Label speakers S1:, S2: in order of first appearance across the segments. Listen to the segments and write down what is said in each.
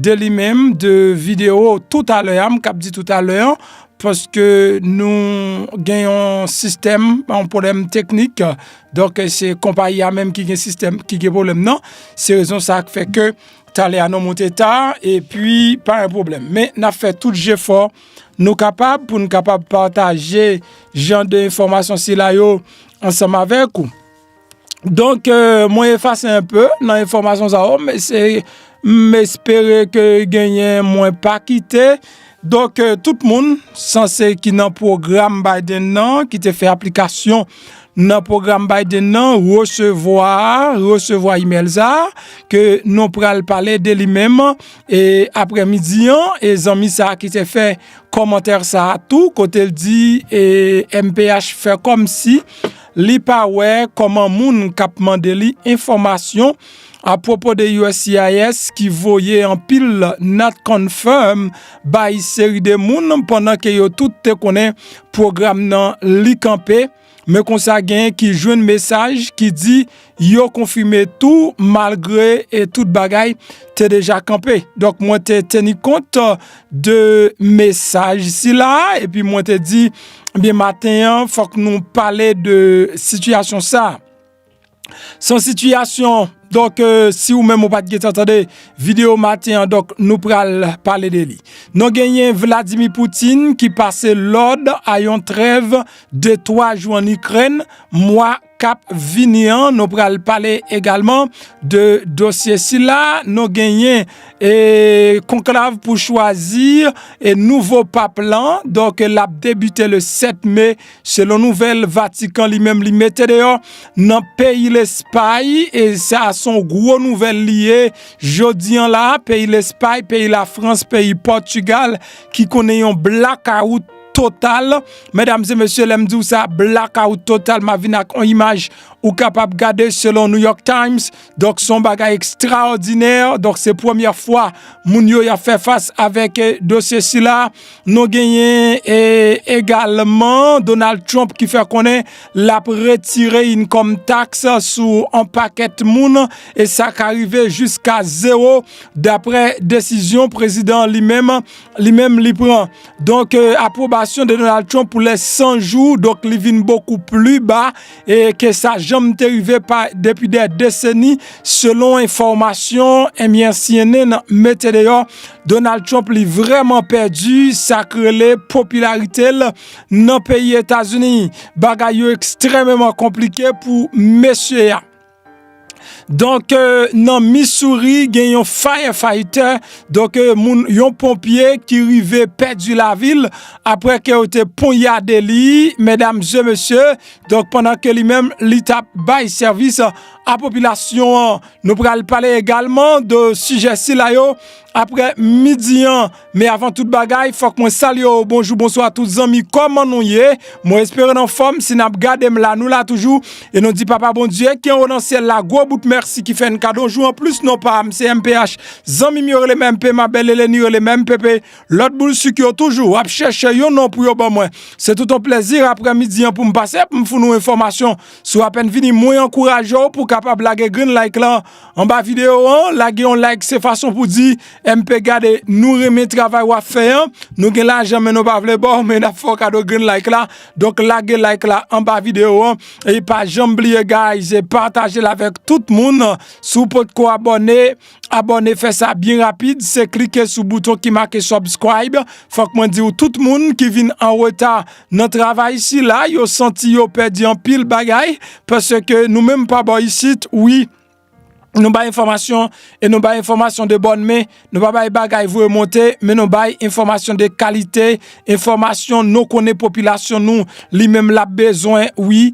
S1: de li menm de video tout a lè a m kap di tout a lè an paske nou gen yon sistèm yon pwoblèm teknik donk se konpayi a menm ki gen sistèm ki gen pwoblèm nan se rezon sa k fè ke talè a nou monte ta e pi pa yon pwoblèm men n ap fè tout jefò nou kapab pou nou kapab pataje jan de enfòmasyon sila yo ansanm avèk ou. Donk mwen efase un peu nan enfomasyon sa yo men se m espere ke genyen mwen pa kite donk tout moun sanse ki nan program Biden nan ki te fè aplikasyon nan program Biden nan resevwa resevwa email sa ke nou pral pale de li menm e aprè midi an e zanmi sa ki te fè komantè sa tou kote l di e mph fè komsi Li pa wè kòman moun k ap mande li enfòmasyon apwopo de uscis ki voye anpil not confirm bay seri de moun pandan ke yo tout te konnen pwogram nan li kanpe men konsa genyen ki jwenn mesaj ki di Yo konfime tou malgre e tout bagay te deja kanpe. Donk mwen te teni kont de mesaj sila epi mwen te di byen eh maten an fòk nou pale de sitiyasyon sa. San sitiyasyon, donk euh, si ou menm ou pat gen tantande video maten an donk nou pral pale de li. Nou genyen Vladimir Poutine ki pase lòd a yon trèv de 3 jou an Ikrèn mwa kap vini an nou pral pale egalman de dosye sila nou genyen e konklav pou chwazi e nouvo pap lan donk lap debite le 7 me selon nouvel vatikan li menm li mete deyo nan peyi lespay e sa son gro nouvel li ye jodi an la peyi lespay peyi la frans peyi pòtugal ki konnen yon blakawout total medam e mesye lèm diw sa black out total map vin ak yon imaj ou kapab gade selon New York Times donk son bagay ekstraòdinè donk se premyè fwa moun yo yap fè fas avèk dosye sila nou genyen e egalman Donald Trump ki fè konnen lap retire yn kòm taks sou an pakèt moun e sa ka rive jiska zero daprè desizyon prezidan li menm li menm li pran. Donk apwobasyon de Donald Trump pou lè 100 jou, donk li vin bokou pli ba ke sa janm te rive pa depi dè deseni, selon enfòmasyon enbyen cnn mete deyò, Donald Trump li vrèman pèdi sa k rele popilarite l nan peyi Etazini. Bagay yo ekstrèmeman konplike pou mesye a. Donk nan Missouri gen yon firefighter, donk yon ponpye ki rive pèdi lavi l apre ke yo te ponyade li, medam e mesye, donk pandan ke li menm li t ap bay sèvis a popilasyon an. Nou pral pale egalman de sijè sila yo apre midi an. Men avan tout bagay fòk mwen salye w bonjou bonswa tout zanmi kòman nou ye mwen espere n anfòm si nap gade m la nou la toujou e nou di papa Bondye ki anwo nan syèl la gwo bout mèsi ki fè n kado yon jou anplis non pa m se mph zanmi m yo rele m MP ma bèl Eleni rele m mpp lòt boul sik yo toujou ap chèche yon non pou yo ban mwen se tout on plèzi aprè midi an pou m pase pou m foun ou enfòmasyon si w apèn vini mwen ankouraje w pou w kapab lage grenn like lan Anba video an lage yon like se fason pou di MP gade nou renmen travay wap fè an nou gen lajan men nou pa vle baw men nap fèw kado grenn like la donk lage like la anba video an e pa janm bliye guys patajel avèk tout moun si w potko abòne abòne fè sa byen rapid se klike sou bouton ki make subscribe fòk mwen diw tout moun ki vin anreta Nan travay sila, yo santi yo pèdi anpil bagay, paske nou menm pa bò isit, wi, nou bay enfòmasyon, e nou bay enfòmasyon de bòn men, nou pa bay bagay voye monte, men nou bay enfòmasyon de kalite, enfòmasyon nou konnen popilasyon nou li menm l ap bezwen, wi,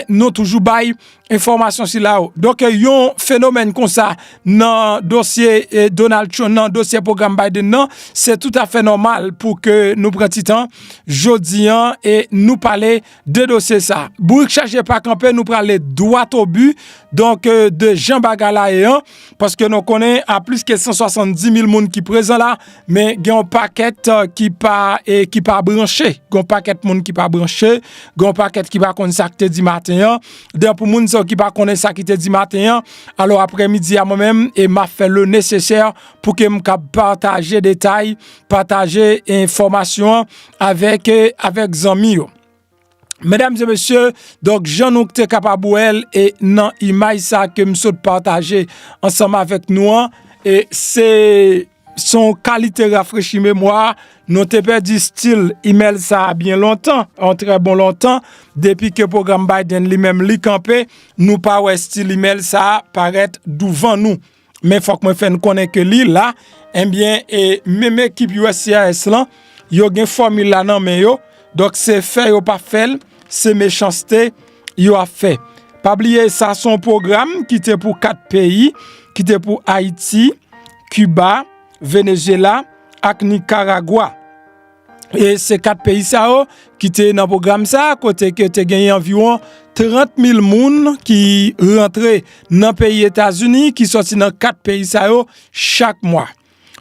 S1: nou toujou bay Enfòmasyon sila yo. Donk yon fenomèn konsa nan dosye eh, Donald Trump, nan dosye program Biden nan, se tout a fè nòmal pou ke nou pran ti tan, jodi an, e nou pale de dosye sa. Bourik chaje pa kanpe, nou prale dwat o bu, donk euh, de jan bagay la ye an. Paske nou konnen a plis ke 170 mil moun ki prezan la, men gen yon pakèt euh, ki pa e ki pa branche. Gon pakèt moun ki pa branche, gon pakèt ki pa konnen sa ki te di maten an. Den pou moun sa ki pa konnen sa ki te di maten an, alo apre midi a mwen menm e ma fè le nesesè pou ke m kab pataje detay, pataje enfomasyon avèk euh, avèk zanmi yo. Medam e mesye, donk jan nou te kapab wèl e nan imaj sa ke m sot pataje ansanm avèk nou an, e se son kalite rafrechi memwa, nou te pèdi stil imèl sa a byen lontan, an trè bon lontan, depi ke pwogram Biden li menm li kanpe, nou pa wè stil imèl sa a parèt douvan nou. Men fòk mwen fè n konnen ke li la, enbyen, e menm ekip uscis lan, yo gen fòmil la nan men yo, donk se fè yo pa fè l, se mechanste yo ap fè. Pa bliye sa son pwogram ki te pou 4 peyi, ki te pou Ayiti, Kiba, Venezyela ak Nikaragwa. E se 4 peyi sa yo ki te nan pwogram sa kote ke te genyen anviwon 30.000 moun ki rantre nan peyi Etazini ki soti nan 4 peyi sa yo chak mwa.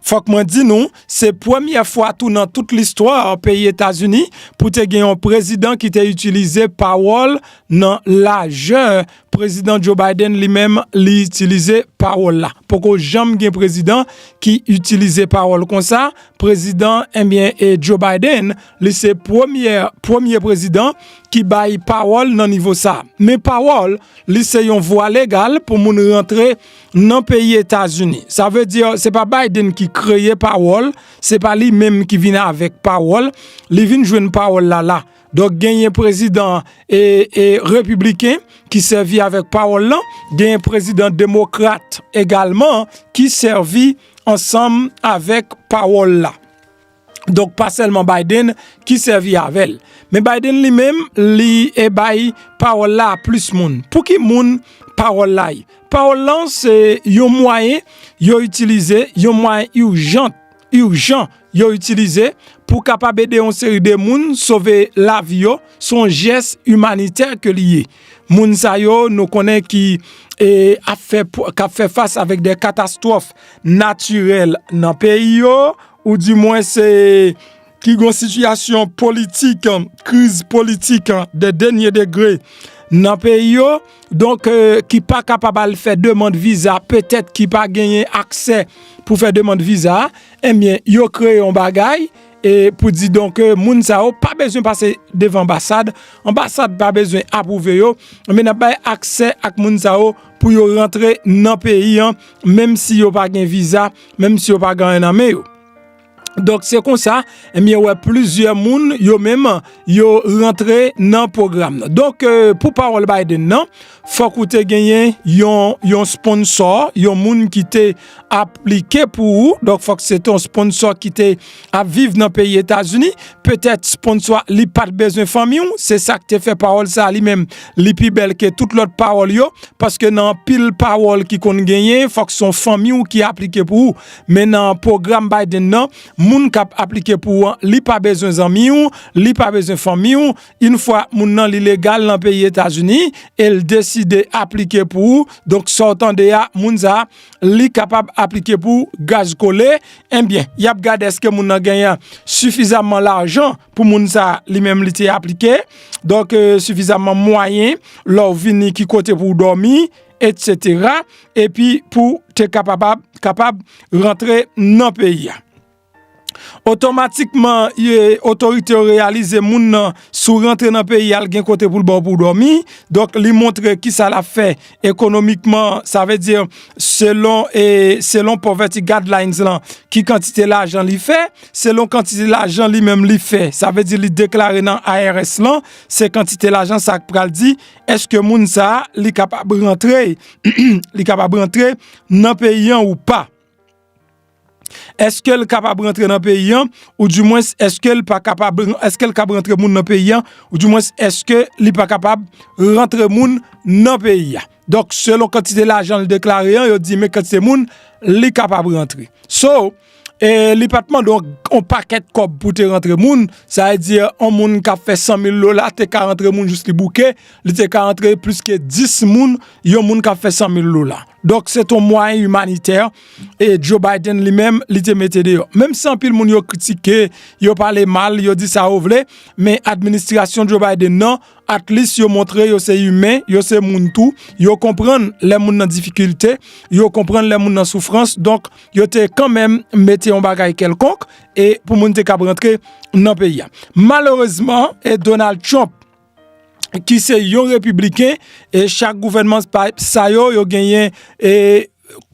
S1: Fòk mwen di nou, se premye fwa tou nan tout listwa peyi Etazini pou te gen yon prezidan ki te itilize pawòl nan lajè Prezidan Joe Biden li menm li itilize pawòl la. Poko janm gen prezidan ki itilize pawòl konsa, prezidan enbyen eh e Joe Biden li se premyè premye prezidan ki bay pawòl nan nivo sa. Men pawòl li se yon vwa legal pou moun rantre nan peyi Etazini. Sa vle di se pa Biden ki kreye pawòl, se pa li menm ki vin avèk pawòl, li vin jwenn pawòl la la. Donk genyen prezidan repibliken ki sèvi avèk pawòl lan, genyen prezidan demokrat egalman ki sèvi ansanm avèk pawòl la. Donk pa sèlman Biden ki sèvi avèl. Men Biden li menm li e bay pawòl la a plis moun. Pou ki moun pawòl la ye? Pawòl lan se yon mwayen yo itilize, yon mwayen urgent. urjan yo itilize pou kapab ede yon seri de moun sove lavi yo, son jès imanitè ke li ye. Moun sa yo nou konnen ki e, ap fè, kap fè fas avèk de katastwòf natirèl nan peyi yo, ou di mwen se ki gon sitiyasyon politik, kriz politik de dènye degre nan peyi yo, donk ki pa kapab al fè demand viza petèt ki pa genyen aksè pou fè demand viza enbyen eh yo kreye yon bagay e pou di donk moun sa yo pa bezwen pase devan anbasad, anbasad pa bezwen apwouve yo men ap bay aksè ak moun sa yo pou yo rantre nan peyi an menm si yo pa gen viza menm si yo pa gen anyen nan men yo. Donk se konsa mwen wè plizyè moun yo menm yo rantre nan pwogram nan. Donk pou pawòl Biden nan, fòk ou te genyen yon sponsò, yon moun ki te aplike pou ou, donk fòk se te yon sponsò ki te ap viv nan peyi Etazini, petèt sponsò a li pat bezwen fanmi ou, se sa k te fè pawòl sa a li menm li pi bèl ke tout lòt pawòl yo, paske nan anpil pawòl ki konn genyen fòk se yon fanmi ou ki aplike pou ou. Men nan pwogram Biden nan, moun k ap aplike pou an, li pa bezwen zanmi w, li pa bezwen fanmi w, yn fwa moun nan li legal nan peyi Etazini e l deside aplike pou ou, donk sa w tande a, moun sa li kapab aplike pou ou gaz kole, enbyen y ap gade èske moun nan genyen sifizamman lajan pou moun sa li menm li te aplike, donk sifizamman mwayen lè w vini ki kote pou w dòmi. etc. Epi pou te kapab rantre nan peyi a. Otomatikman, otorite yo realize moun nan sou rantre nan peyi al gen kote pou l baw pou domi. Donk li montre ki sa la fè ekonomikman. Sa vle di selon poverty guidelines lan ki kantite la jan li fè. Selon kantite la jan li menm li fè. Sa vle di li deklare nan IRS lan se kantite la jan sa ak pral di. eske moun sa li kapab rantre li kapab rantre nan peyi an ou pa eske l kapab rantre nan peyi an ou di mwen eske l pa kapab eske l kab rantre moun nan peyi an ou di mwen eske li pa kapab rantre moun nan peyi a donk selon kantite lajan l deklare an yo di men kantite moun li kapab rantre so E li pat mande yon pakèt kòb pou te rantre moun, sa vle di yon moun kap fè 100 mil dola te ka rantre moun jis li bouke, li te ka rantre plis ke 10 moun, yon moun kap fè 100 mil dola. Donk se ton mwayen imanitè, e Joe Biden li menm li te mete deyò. Menm si anpil moun yo kritike, yo pale mal, yo di sa yo vle, men administrasyon Joe Biden nan, Atlis yo montre yo se imen, yo se moun tou, yo konprann lè moun nan difikilte, yo konprann lè moun nan soufrans, donk yo te kanmenm mete yon bagay kèlkonk e pou moun te kab rantre nan peyi a. Malerezman, e Donald Trump, ki se yon repibliken, e chak gouvènman sa yo, yo genyen e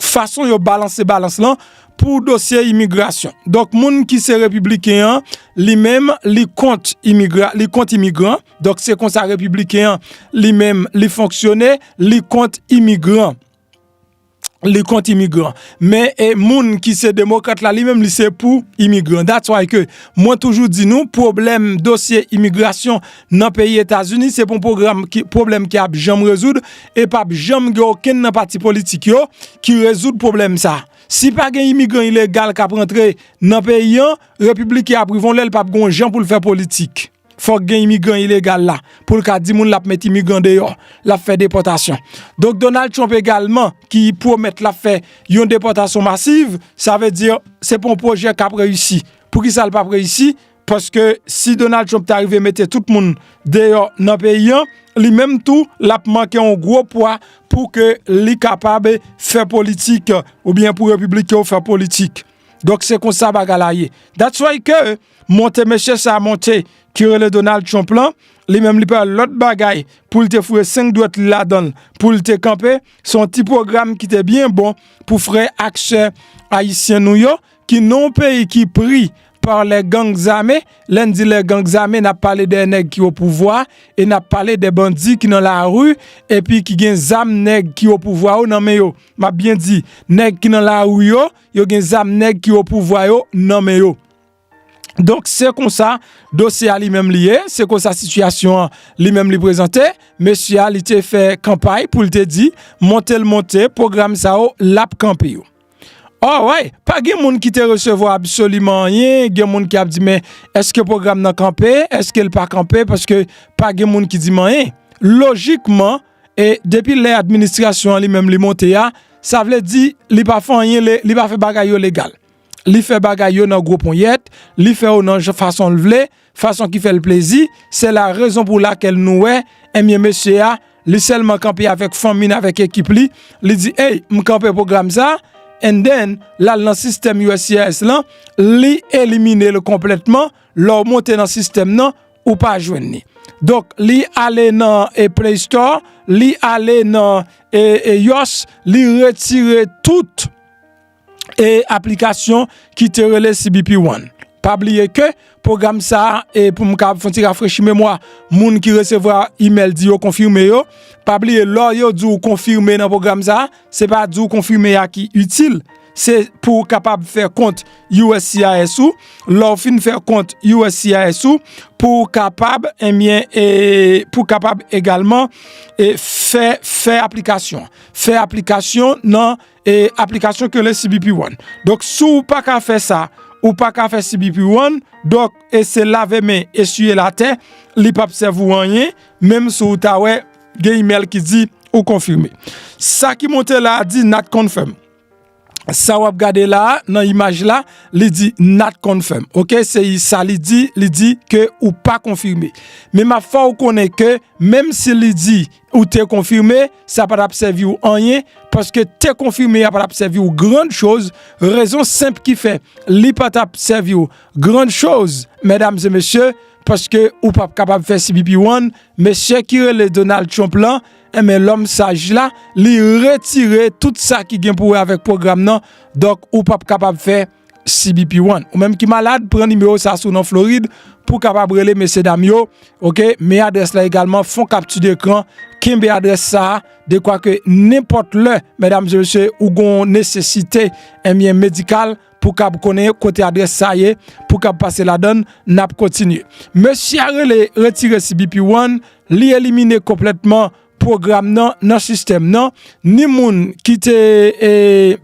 S1: fason yo balanse balans lan pou dosye imigrasyon. Donk moun ki se repibliken an, li menm li kont imigran. Donk se konsa repibliken an li menm li fonksyone, li kont imigran. Li kont imigran. Men e moun ki se demokrat la li menm li se pou imigran. That's why ke mwen toujou di nou pwoblèm dosye imigrasyon nan peyi Etazini se pon pwogram pwoblèm ki ap janm rezoud e pap janm gen okenn nan pati politik yo ki rezoud pwoblèm sa. Si pa gen imigran ilegal kap rantre nan peyi an, repiblike ap rivon lèl pap gon jan poul fè politik. Fòk gen imigran ilegal la poul ka di moun lap met imigran deyò, lap fè depòtasyon. Donk Donald Trump egalman ki pwomèt lap fè yon depòtasyon masiv, sa vle di se pon pwojè kap reyisi. Poukisa l pap reyisi? Paske si Donald Trump ta rive mete tout moun deyò nan peyi an, li menm tou l ap manke yon gwo pwa pou ke li kapab fè politik oubyen pou repiblik yo fè politik. Donk se konsa bagay la ye. That's why ke monte mesye sa monte ki rele Donald Trump lan, li menm li pa yon lòt bagay pou l te foure 5 dwèt li ladan l pou l te kanpe, se yon ti pwogram ki te byen bon pou frè ak sè ayisyen nou yo Ki non peyi ki pri par lè gang zame, lè n di lè gang zame nap pale dè nèg ki o pouvwa e nap pale dè bandi ki nan lari epi ki gen zam nèg ki o pouvwa yo nan men yo, map byen di nèg ki nan lari yo, yo gen zam nèg ki o pouvwa yo nan men yo. Donk se konsa dosye a li menm li ye, se konsa sitiyasyon an li menm li prezante, mesye a li te fè kanpay pou l te di monte l monte pwogram sa yo lap kanpe yo. All right, pa gen moun ki te resevwa absoliman anyen, gen moun ki ap di men eske pwogram nan kanpe, eske l pa kanpe paske pa gen moun ki di m anyen. Lojikman, e depi lè administrasyon an li menm li monte a, sa vle di li pa fè anyen, li pa fè bagay yo legal. Li fè bagay yo nan gwo ponyèt, li fè yo nan fason l vle, Fason ki fèl plezi, se la rezon pou lakel nou wè, enbyen mesye a, li selman kanpe avek fanmi n avek ekip li, li di ey m kanpe pwogram sa, and then lal nan sistèm uscis lan, li elimine l konplètman, lè w monte nan sistèm nan, ou pa jwenn li. Donk li ale nan play store, li ale nan ios, li retire tout. e aplikasyon ki te rele CBP One. Pa bliye ke pwogram sa a, e pou m kab fon ti rafrechi memwa moun ki resevwa imèl di yo konfime yo, pa bliye lò yo di w konfime nan pwogram sa a, se pa di w konfime a ki itil, se pou w kapab fè kont uscis ou, lò w fin fè kont uscis ou, pou w kapab, enbyen, e pou w kapab egalman, e fè, fè aplikasyon. Fè aplikasyon nan e aplikasyon ki rele CBP One. Donk si w pa ka fè sa, ou pa ka fè CBP One, donk e se lave men, eswiye l atè, li p ap sèvi w anyen, menm si w ta wè gen imèl ki di ou konfime. Sa ki monte la a di not confirmed. Sa w ap gade la a nan imaj la, li di not confirmed. Ok, se sa li di, li di ke ou pa konfime. Men m ap fè w konnen ke menm si li di Ou te konfime, sa pa t ap sèvi w anyen, paske te konfime a pa t ap sèvi w grann choz, rezon senp ki fè li pa t ap sèvi w grann choz, mèdam e mesye, paske ou pa p kapab fè CBP-One, mesye ki rele Donald Trump lan, enben lòm saj la, li retire tout sa ki gen pou wè avèk pwogram nan, donk ou pa p kapab fè. CBP one. Ou menm ki malad, pran nimewo sa sou nan Florid pou kapab rele mesye dam yo. Ok, men adres la egalman, fon kapti de kran, kenbe adres sa, de kwa ke nenpot le, medam zemesye, ou gon nesesite, enmyen eh medikal, pou kab konen kote adres sa ye, pou kab pase la dan, nap kontinye. Mesye a rele, retire CBP one, li elimine konpletman, pwogram nan nan sistèm nan, ni moun ki te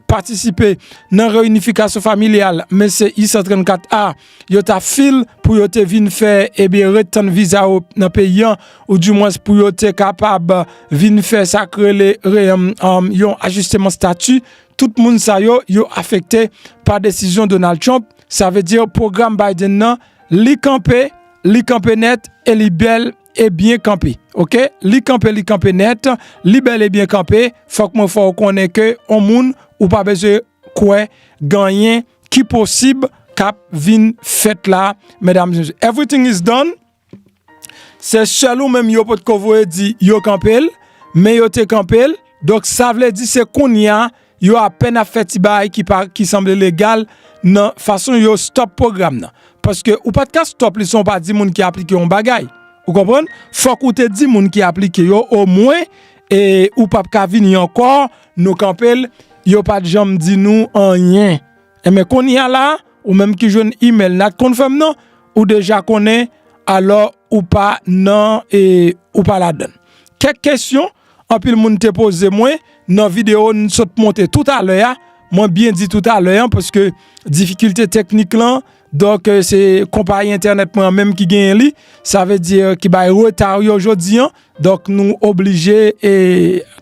S1: patisipe nan reyinifikasyon familyal men se I-134 a yo ta fil pou yo te vin fè ebyen ret tann viza yo nan peyi an ou di mwens pou yo te kapab vin fè sa k rele yon ajisteman stati tout moun sa yo yo afekte pa desizyon Donald Trump sa vle di pwogram Biden nan li kanpe li kanpe nèt e li bèl. e byen kanpe ok li kanpe li kanpe nèt li bèl e byen kanpe fòk mwen fè w konnen ke on moun ou pa bezwen kwè ganyen ki posib kap vin fèt la medam zye everything is don se sèl ou menm yo potko voye di yo kanpe l men yo te kanpe l donk sa vle di se kounye a Yo apèn ap fè ti bagay ki pa ki sanble legal nan fason yo stop pwogram nan. Paske ou pat ka stop li san ou pa di moun ki aplike yon bagay. Ou konprann? Fòk ou te di moun ki aplike yo omwen e ou pap ka vini ankò nou kanpe l yo pat janm di nou anyen. Enben kounye a la ou menm ki jwenn email nan t konn fè m nan ou deja konnen alò ou pa nan e ou pa ladann. Kèk kesyon Anpil moun te poze mwen nan video n sot monte tout a lè a, mwen byen di tout a lè an paske difikilte teknik lan, donk se konpayi entènèt mwen an menm ki genyen li, sa vle di ki bay reta yo jodi an, donk nou oblije e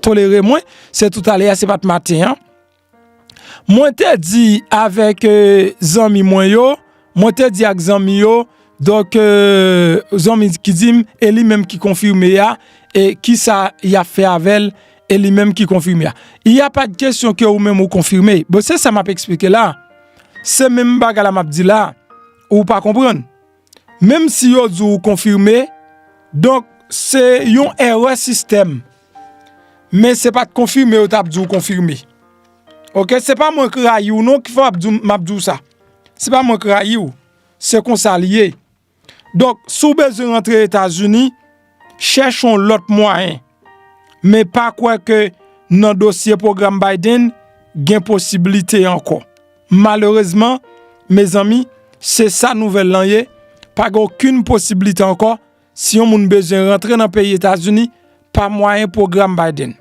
S1: tolere mwen, se tout a lè a se pat maten an. Mwen te di avèk zanmi mwen yo, mwen te di ak zanmi yo, donk zanmi ki di m, e li menm ki konfime a, e ki sa y ap fè avè l, e li menm ki konfime a. Il y a pas de question que ou menm ou konfime. Bon, se sa m ap eksplike la a. Se menm bagay la m ap di la a. Ou pa konprann. Menm si yo di w ou konfime, donk se yon èrè sistèm. Men se pat konfime yo tap diw konfime Ok se pa mwen k rayiw non ki fè map diw sa Se pa mwen k rayiw Se konsa li ye Donk si w bezwen rantre etazini Chèche yon lòt mwayen Men pa kwè ke nan dosye pwogram Biden Gen posibilite ankò Malerezman mezanmi se sa nouvèl lan ye Pa gen okenn posibilite ankò si yon moun bezwen rantre nan peyi Etazini pa mwayen pwogram Biden.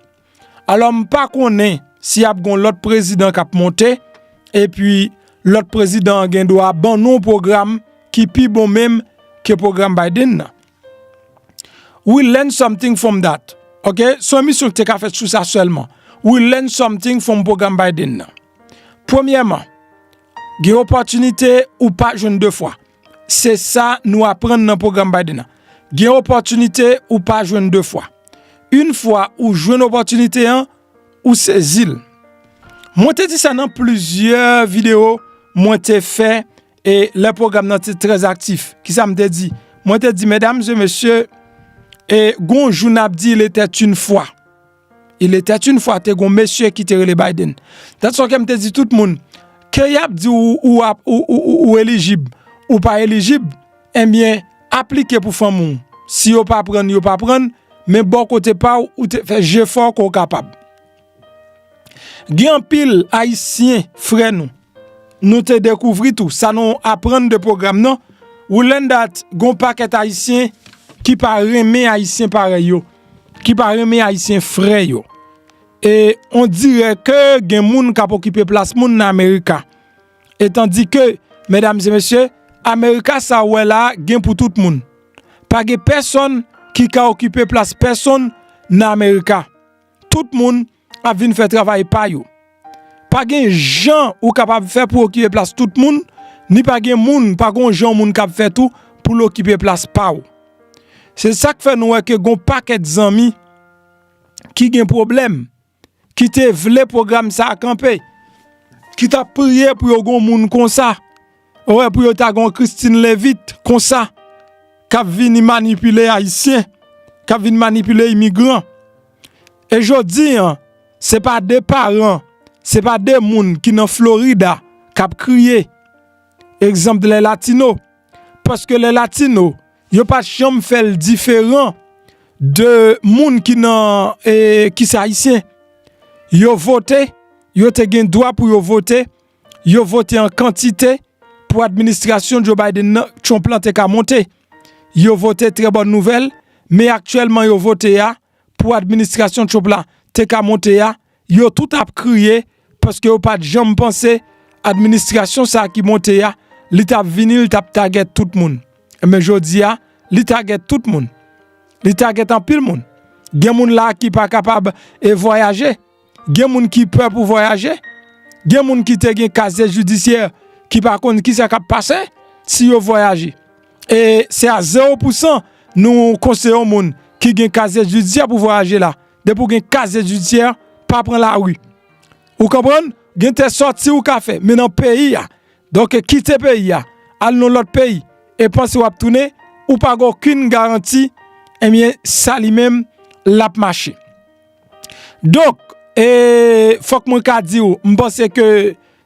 S1: Alò m pa konnen si ap gon lòt prezidan k ap monte epi lòt prezidan an gen dwa ban nou yon pwogram ki pi bon menm ke pwogram Biden nan. We learn something from that ok, se yon emisyon ki te ka fèt sou sa sèlman. We learn something from pwogram Biden nan. Premyèman, gen opòtinite ou pa jwenn 2 fwa. Se sa nou aprann nan pwogram Biden an. Gen opòtinite ou pa jwenn 2 fwa. Yn fwa ou jwenn opòtinite an, ou sezi l. Mwen te di sa nan plizyè videyo mwen te fè e lè pwogram nan te trè aktif. Ki sa m te di? Mwen te di medam e mesye, e gon jou n ap di il etait une fois. Il etait une fois te gon mesye ki te rele Biden. Dat son kem te di tout moun, ke yap di ou ou ap ou ou ou ou elijib, ou pa elijib, enbyen aplike pou fanm ou. Si yo pa prann yo pa prann, men bò kote pa ou ou te fè jefò ke w kapab. Gen anpil ayisyen frè nou, nou te dekouvri tou, sa nou aprann de pwogram nan, we learn that gon pakèt ayisyen ki pa renmen ayisyen parèy yo. ki pa renmen ayisyen frè yo e on dirè ke gen moun kap okipe plas moun nan amerika etan di ke medam se mesye amerika sa ou wè la gen pou tout moun pa gen pèsòn ki ka okipe plas pèsonn nan amerika tout moun ap vin fè travay pa yo. Pa gen jan ou kapab fè pou okipe plas tout moun, ni pa gen moun, pa gon jan yon moun kab fè tou pou l okipe plas pa w. Se sa k fè nou wè ke gon pakèt zanmi ki gen pwoblèm, ki te vle pwogram sa a kanpe, ki t ap priye pou yo gon moun konsa, Ou wè pou yo ta gen yon Christine Levit konsa k ap vini manipile Ayisyen, k ap vin manipile imigran. E jodi a, se pa de paran, se pa de moun ki nan Florida k ap kriye egzanp de lè latino. Paske lè latino, yo pa janm fè l diferan de moun ki nan, ki se Ayisyen. Yo vote, yo te gen dwa pou yo vote, Yo vote an kantite pou administrasyon Joe Biden nan, Trump lan te ka monte. Yo vote trè bòn nouvèl, men aktyèlman yo vote a pou administrasyon Trump la te ka monte a, yo tout ap kriye paske yo pat janm panse administrasyon sa ki monte a li t ap vini li t ap tagèt tout moun. Enben jodi a li tagèt tout moun. Li tagèt anpil moun. Gen moun la ki pa kapab e vwayaje. Gen moun ki pè pou vwayaje, gen moun ki te gen kazye jidisyè ki pa konn ki sa kap pase si yo vwayaje. E se a 0 pou 100 nou konseye yon moun ki gen kazye jidisyè pou vwayaje la. Depi ou gen kazye jidisyè, pa pran lari. Ou konprann? Gen te sòti ou ka fè, men nan peyi a. Donk kite peyi a, al nan lòt peyi e panse wap tounen, ou pa gen okenn garanti, ebyen sa li menm lap mache. Donk, e fòk mwen ka di ou, m panse ke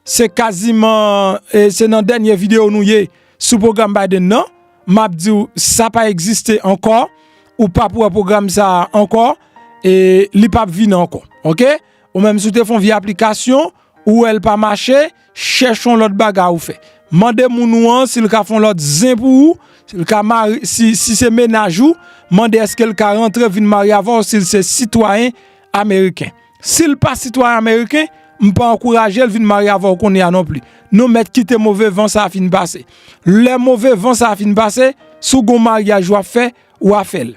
S1: se kaziman e se nan dènye videyo nou ye sou pwogram Biden nan, m ap di ou sa pa egziste ankò, ou p ap wè pwogram sa a ankò, e li p ap vini ankò. Ok, ou menm si w te fè yon vye aplikasyon, Ou wè l pa mache, chèch yon lòt bagay ou fè. Mande moun ou an si l ka fè yon lòt zen pou ou, si se menaj ou, mande èske l ka rantre vin marye avè w si l se sitwayen ameriken. Si l pa sitwayen ameriken, m pa ankouraje l vin marye avè w kounye a non pli. Nou mèt kite move van sa a fin pase. Lè move van sa a fin pase, si w gen yon maryaj w ap fè, w a fè l.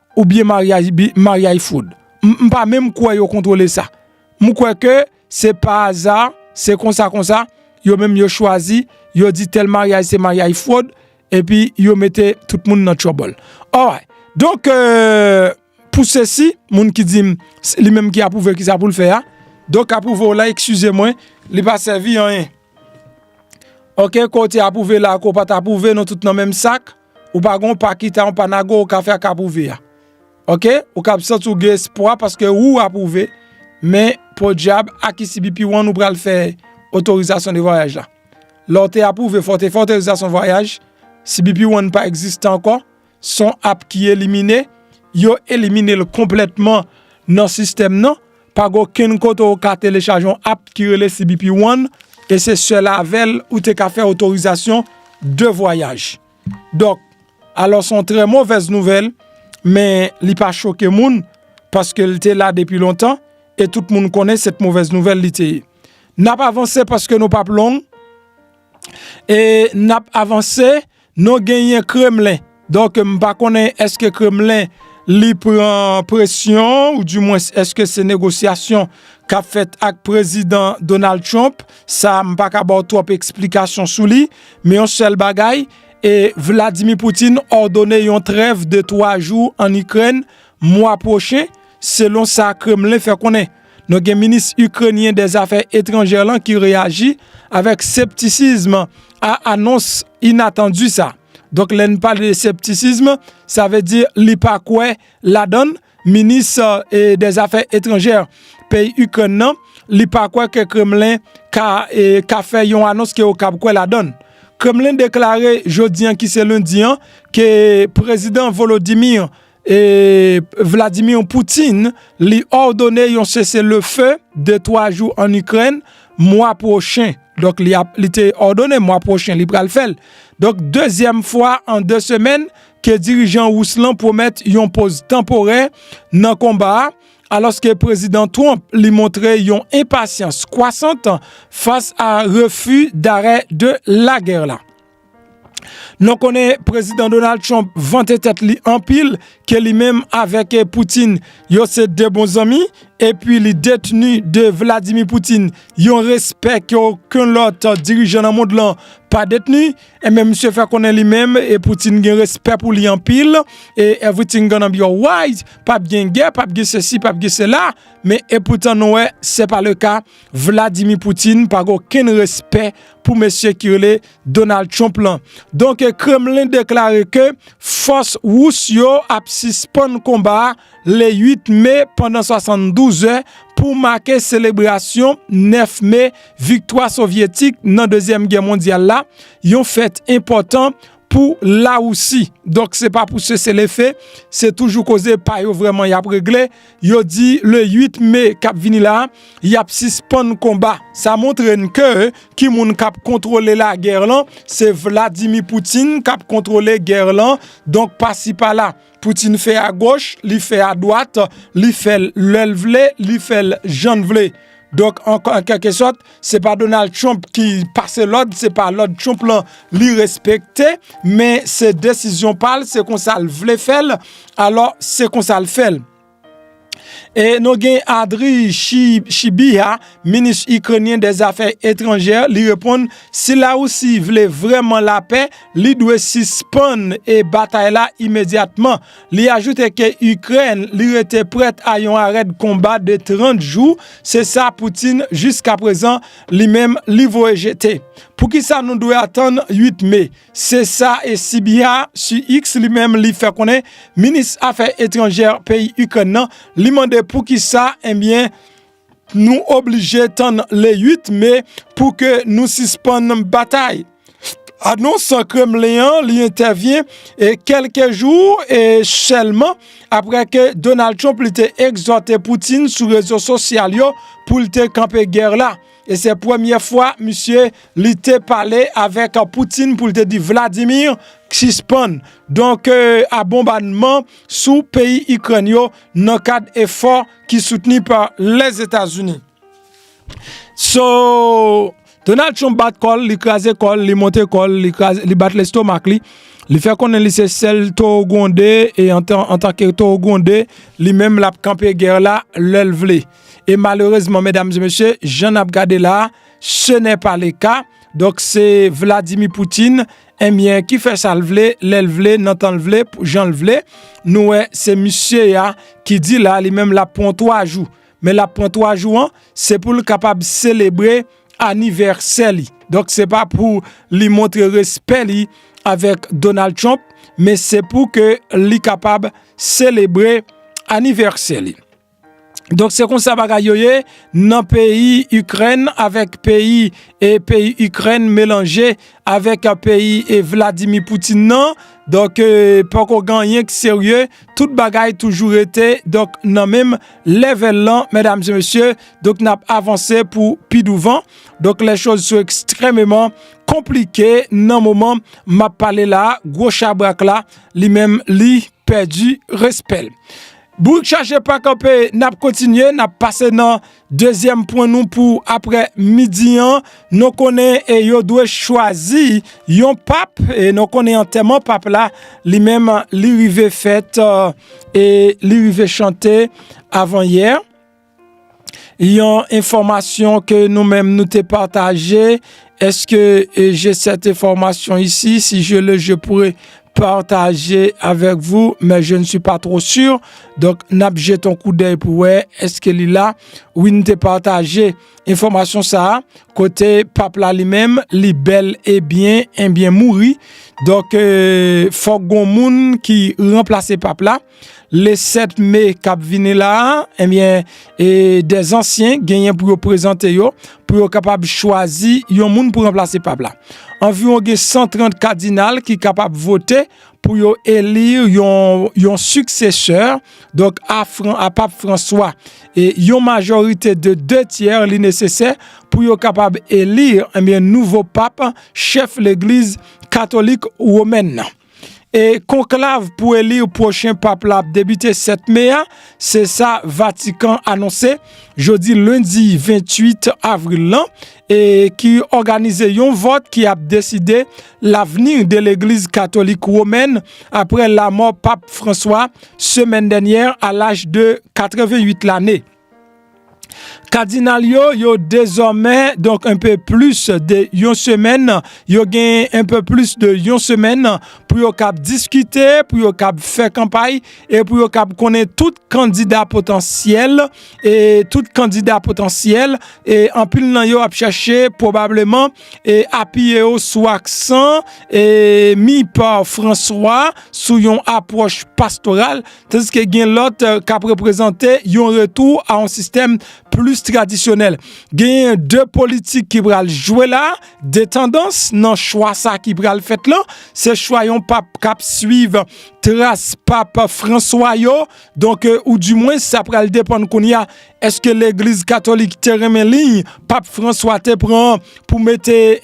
S1: ou byen maryaj bi maryaj fwod m pa menm kwè yo kontwole sa m kwè ke se pa aza se konsa konsa yo menm yo chwazi yo di tèl maryaj se maryaj fwod epi yo mete tout moun nan tchòbòl alright donk euh pou sesi moun ki di m li menm ki apwouve kisa pou l fè a donk apwouve w la eskize mwen li pa sèvi anyen ok kow te apwouve la kow pat apwouve nou tout nan menm sak. Ou pa gon pa kita yon pa nago ou ka fè ak apwouve a. Ok, ou ka ap santi w gen espwa paske ou apwouve, men podyab ak ICBP ou an ou pral fè otorizasyon de vwayaj la. Lè w te apwouve fò w te fè otorizasyon vwayaj, CBP ou an pa egziste ankò, son app ki elimine, yo elimine l konplètman nan sistèm nan. Pa gen okenn kote ou ka telechaje yon app ki rele CBP One e se sèl avè l ou te ka fè otorizasyon de vwayaj. Donk, alò se yon trè movèz nouvèl, men li pa choke moun paske l te la depi lontan e tout moun konnen se t movèz nouvèl li te ye. N ap avanse paske nou p ap long e n ap avanse. Non genyen kremlen donk m pa konnen eske kremlen li pran presyon ou di mwens eske se negosyasyon kap fèt ak prezidan Donald Trump sa m pa ka baw twòp eksplikasyon sou li men yon sèl bagay e Vladimir Poutine òdone yon trèv de 3 jou an Ikrèn mwa pwochen selon sa kremlen fè konnen. Nou gen minis Ikrenyen dè zafè etranjè lan ki reyaji avèk septisism a anons inatandi sa. Donk lè n pale de septisism, sa vle di li pa kwè ladan l, minis dè zafè etranjè peyi Ikrèn nan, li pa kwè ke Kremlen ka fè yon anons ke yo kab kwè ladan l. Kremlen deklare jodi an ki se lendi an ke Prezidan Volodymyr E Vladimir Poutine li òdone yon sese le fe de 3 jou an Ikrèn mwa pwochen. Donk li te òdone mwa pwochen li pral fèl. Donk dezyèm fwa an 2 semèn ke dirijan rous lan pwomèt yon poz tanporè nan konba a. Aloske prezidan Trump li montre yon enpasyans kwasant fas a refi dare de lagè la. Nou konnen prezidan Donald Trump vante tèt li anpil ke li menm avèk Poutine yo se 2 bon zanmi epi li detni de Vladimir Poutine yon respè ke oken lòt dirijan nan mond lan pa detni e men misye fè konnen li menm e Poutine gen respè pou li anpil e everything gonna be alright pap gen gè pap gen sesi pap gen sela men epoutan nou wè se pa le ka. Vladimir Poutine pa gen okenn respè pou mesye ki rele Donald Trump lan. Donk Kremlin deklare ke fòs Rous yo ap sispann konba a le 8 Me pandan 72 zè pou make selebrasyon 9 Me, viktwa Sovyetik nan Dezyèm Gè Mondyal la, yon fèt enpòtan pou Larisi. Donk se pa pou seselefe, se toujou koze pa yo vrèman y ap regle. Yo di le 8 me kap vini la yap sispann konba. Sa montre n ke ki moun kap kontwole la gè lan se Vladimir Putin kap kontwole gè lan donk pasi pala Putin fè a goch li fè a dwat li fèl lèl vle li fèl jann vle. Donk an kèlke sòt, se pa Donald Trump ki pase lòd, se pa lòd Trump lan li respekte, men se desizyon pa l, se konsa l vle fè l, alò se konsa l fè l. E nou gen Andriy Sybiha, minis Ikrenyen dè zafè etranjè, li reponn, si Larisi vle vrèman lapè, li dwe sispann batay la imedyatman. Li ajoute ke Ikrèn li rete prèt a yon arèt konba de 30 jou, se sa Putin jiskaprezan li menm li voye jete. Poukisa nou dwe atann 8 me? Se sa Sybiha su X li menm li fè konnen minis afè etranjè peyi Ikrèn nan, li mande poukisa, enbyen, Nou oblije tann le 8 me pou ke nou sispann batay. Anons Kremlin an li entèvyen e kelke jou e sèlman apre ke Donald Trump li te egzòte Putin sou rezo sosyal yo pou li te kanpe gè la. E se premye fwa misye li te pale avèk Putin pou li te di Vladimir sispann donk a bonbannman sou peyi Ikrèn yo nan kad efò. ki soutni pa Lèzetazini. So, Donald Trump bat kòl, li kraze kòl, li monte kòl, li kraze, li bat lestomak li. Li fè konnen li se sèl toro gwonde e an tan ke toro gwonde, li menm lap kanpe gèr la lèl vle. E malerezman, medam e mesye, jan nap gade la, se nè pa le ka. Donk se Vladimir Poutine. Enbyen ki fè sa l vle, lè l vle, nan tan l vle, jan l vle. Nou wè se misye a ki di la li menm l ap pran 3 jou. Men l ap pran 3 jou an, se pou l kapab selebre anivèsè li. Donk se pa pou li montre respè li avèk Donald Trump, men se pou ke li kapab selebre anivèsè li. Donk se konsa bagay yo ye nan peyi Ikrèn avèk peyi e peyi Ikrèn melanje avèk peyi e Vladimir Poutine nan. Donk poko ganyen ki serye, tout bagay toujou rete donk nan menm lèvèl lan mèdam se mesye. Donk nap avanse pou pi douvan. Donk lè choz sou ekstrèmeman konplike nan moman map pale la. Gwo chabrak la li menm li pèdi respèl. Bouk chaje pa kanpe nap kontinye nap pase nan dezyèm pwen nou pou aprè midi an nou konnen e yo dwe chwazi yon pap e nou konnen antèman pap la li menm li rive fèt e li rive chante avan yè. Yon enfòmasyon ke nou menm nou te pataje, eske je sète enfòmasyon isi, si je le je poure pataje avèk vou, men je ne si pa tro sur, donk nap jete yon kou dèy pou wè, eske li la, wi nou te pataje enfòmasyon sa, kote pap la li menm, li bèl e byen, e byen mouri, donk fòk gon moun ki ranplase pap la, Le 7 me kap vini la a, ebyen, e de zansyen genyen pou yo prezante yo, pou yo kapab chwazi yon moun pou ranplase pap la. Anviwon gen 130 kadinal ki kapab vote pou yo elir yon siksesè, donk a pap Franswa. E yon majorite de 2 tyer li nesesè pou yo kapab elir, ebyen, nouvo pap, chèf legliz katolik womèn nan. E konklav pou eli pwochen pap la ap debite 7 me a, se sa Vatikan anonse jodi lendi 28 avril lan, e ki òganize yon vòt ki ap deside lavni de legliz katolik womèn apre lamò pap Franswa semèn dènyè a laj de 88 lane. Kadinal yo, yo dezòmè donk enpe plis de yon semèn, yo gen enpe plis de yon semèn pou yo kab diskite, pou yo kab fè kanpay e pou yo kab konnen tout kandida potansyèl e tout kandida potansyèl e anpil nan yo ap chache pwobableman e apiye yo sou aksan e mi pa François sou yon apwòch pastoral Tandiske gen lòt k ap reprezante yon retou a yon sistèm plis tradisyonèl. Genyen 2 politik ki pral jwe la, 2 tandans nan chwa sa ki pral fèt lan. Se chwa yon pap k ap swiv tras pap Franswa yo. Donk, ou di mwen sa pral depann kounye a, èske legliz katolik te renmen liy pap Franswa te pran pou mete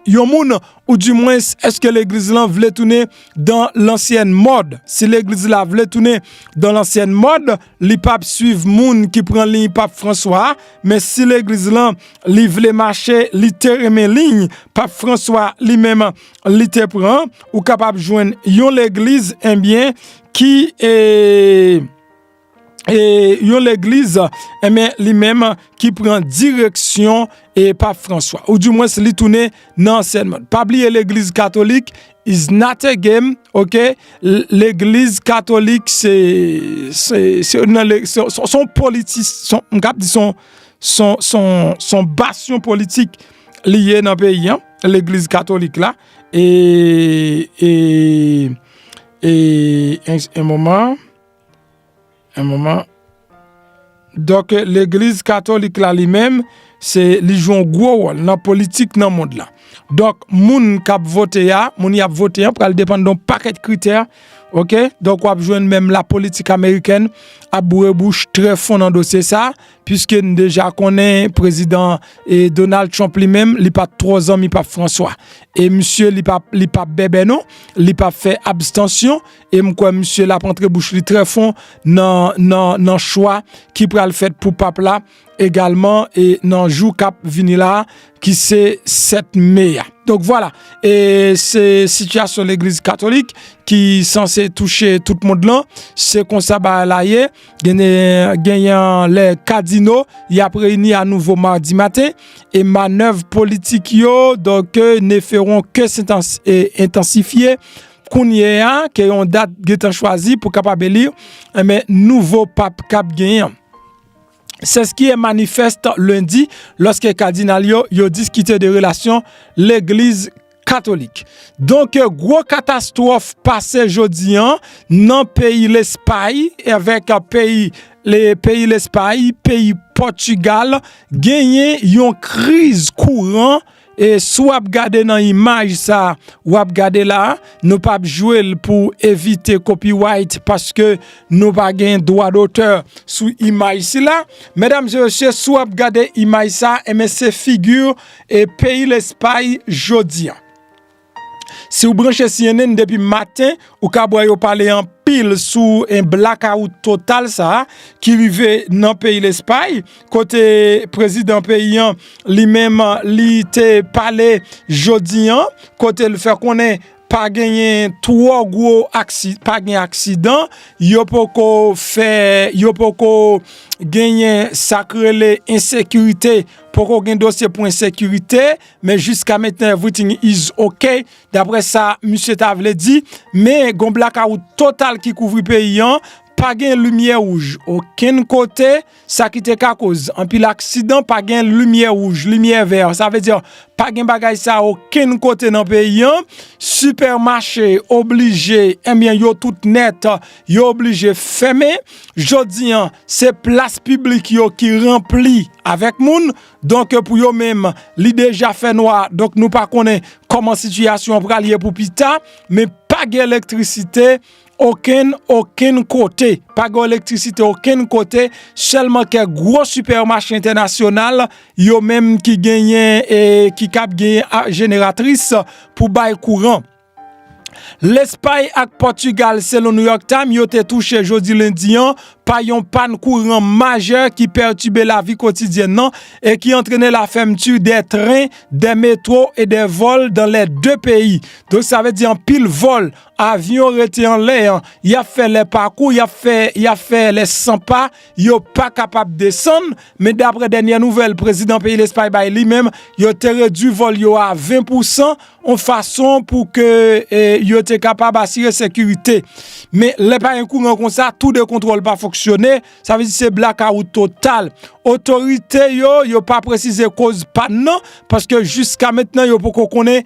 S1: yon moun Ou di mwens, eske legliz lan vle tounen dan lansyèn mòd? Si legliz la vle tounen dan lansyèn mòd, li pap swiv moun ki pran liy Pap Franswa a, men si legliz lan li vle mache, li te renmen liy Pap Franswa li menm li te pran, ou kapab jwenn yon legliz enbyen ki e... e yon legliz enben eh li menm ki pran direksyon e pap François ou di mwen se li toune nan ansyen mòd pa bli e legliz katolik is not a game ok legliz katolik se se se nan le se son politis son m kap di son son son son basyon politik li ye nan peyi an legliz katolik la e e e e un moment Un moment. Donk legliz katolik la li menm se li jwe yon gwo wòl nan politik nan mond la. Donk moun kap vote a, moun yap vote an pral depann don pakèt kritè ok. Donk wap jwenn menm la politik amerikèn ap boure bouch trè fon nan dosye sa puiske n deja konnen prezidan e Donald Trump li menm li pa twò zanmi Pap Franswa. E misye li pa li pa bèbè non, li pa fè abstansyon. E m kwè misye l ap antre bouch li trè fon nan chwa ki pral fèt pou pap la egalman e nan jou k ap vini la ki se 7 me a. Donk vwala, e se sitiyasyon legliz katolik ki sanse touche tout mond lan, se konsa bagay la ye, genyen lè kadino y ap reyini a nouvo madi maten, e manèv politik yo, donk ne feron ke se entansifye, Kounye a ke yon dat gentan chwazi pou kapab eli, enben eh nouvo pap kap genyen. Seskiye manifest lendi loske kadinal yo yo diskite de relasyon legliz katolik. Donk gwo katastrof pase jodi an nan peyi lespay evek peyi le peyi lespay, peyi potigal genyen yon kriz kouran E si w ap gade nan imaj sa w ap gade la, nou pa p jwe l pou evite copyright paske nou pa gen dwa dotè sou imaj sila. Medam e mesye, si w ap gade imaj sa, enben se figi e peyi Lespay jodi a. Siw branche cnn depi maten ou kab wè yo pale anpil sou en blakawout total sa ki rive nan peyi lespay kote prezidan peyi an li menm li te pale jodi an kote l fè konnen pa genyen twò gwo aksi pa gen aksidan yo poko fè yo poko genyen sak rele ensekirite poko gen dosye pou ensekirite Men jiska menten everything is ok daprè sa misye ta vle di men gon blakawout total ki kouvri peyi an pa gen limyè wouj okenn kote sa ki te ka koz anpil aksidan pa gen limyè wouj limyè vè sa vle di pa gen bagay sa okenn kote nan peyi an sipèmache oblije enbyen yo tout nèt yo oblije fèmen jodi an se plas piblik yo ki ranpli avèk moun Donk pou yo menm, li deja fè nwa, donk nou pa konnen kòman sitiyasyon an pral ye pou pita, men pa gen elektrisite okenn okenn kote, pa gen elektrisite okenn kote, sèlman kèk gwo sipèmache entènasyonal, yo menm ki genyen e ki kab genyen jeneratris pou bay kouran. Lespay ak Pòtigal selon New York Times yo te touche jodi lendi an pa yon pàn kouran majè ki pètibe lavi kotidyèn nan e ki antrene la fèmti de tren, de metro e de vòl dan lè 2 peyi. Donk sa vle di anpil vòl, avyon rete anlè an, y ap fè lè pakou, y ap fè lè 100 pa. yo pa kapab desann, men dapre dènyè nouvèl prezidan peyi Lespay bay li menm, yo te redui vòl yo a 20 pou 100, yon fason pou ke yo te kapab asire sekirite. Men lè pa gen kouran konsa, tou de kontwòl pa fonksyone, sa vle di se blakawout total. Otorite yo, yo pa presize koz pàn nan, paske jiska mentnan yo poko konnen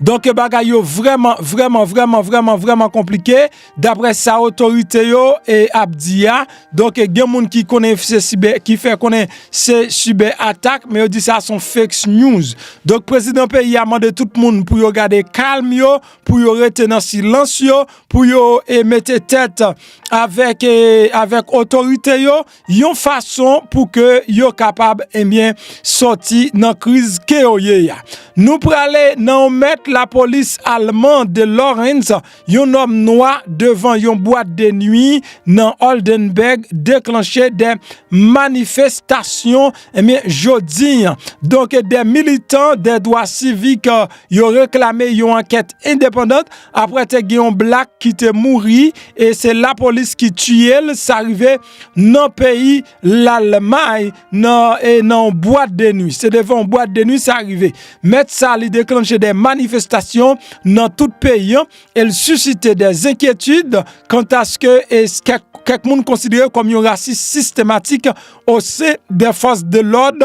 S1: Donk bagay yo vrèman vrèman vrèman vrèman vrèman konplike daprè sa otorite yo ap di a. Donk gen moun ki konnen se sibè, ki fè konnen se sibè atak men yo di sa son fakes news. Donk prezidan peyi a mande tout moun pou yo gade kalm yo, pou yo rete nan silans yo, pou yo mete tèt avèk otorite yo yon fason pou ke yo kapab enbyen sòti nan kriz ke yo ye a. Nou prale nan yon mèt lapolis alman de Lawrence, yon nòm nwa devan yon bwat de nwi nan Oldenburg deklanche de manifestasyon enbyen jodi an. Donk de militan de dwa sivik yo reklame yon ankèt endepandant Aprè te gen yon black ki te mouri e se lapolis ki tiye l sa rive nan peyi lalmay nan e nan yon bwat de nwi se devan yon bwat de nwi sa rive mèt sa li deklanche de manifestasyon nan tout peyi an e l sisite de zenkyetid kantaske e kèk moun konsidere kòm yon rasis sistematik ose de fòs de lòd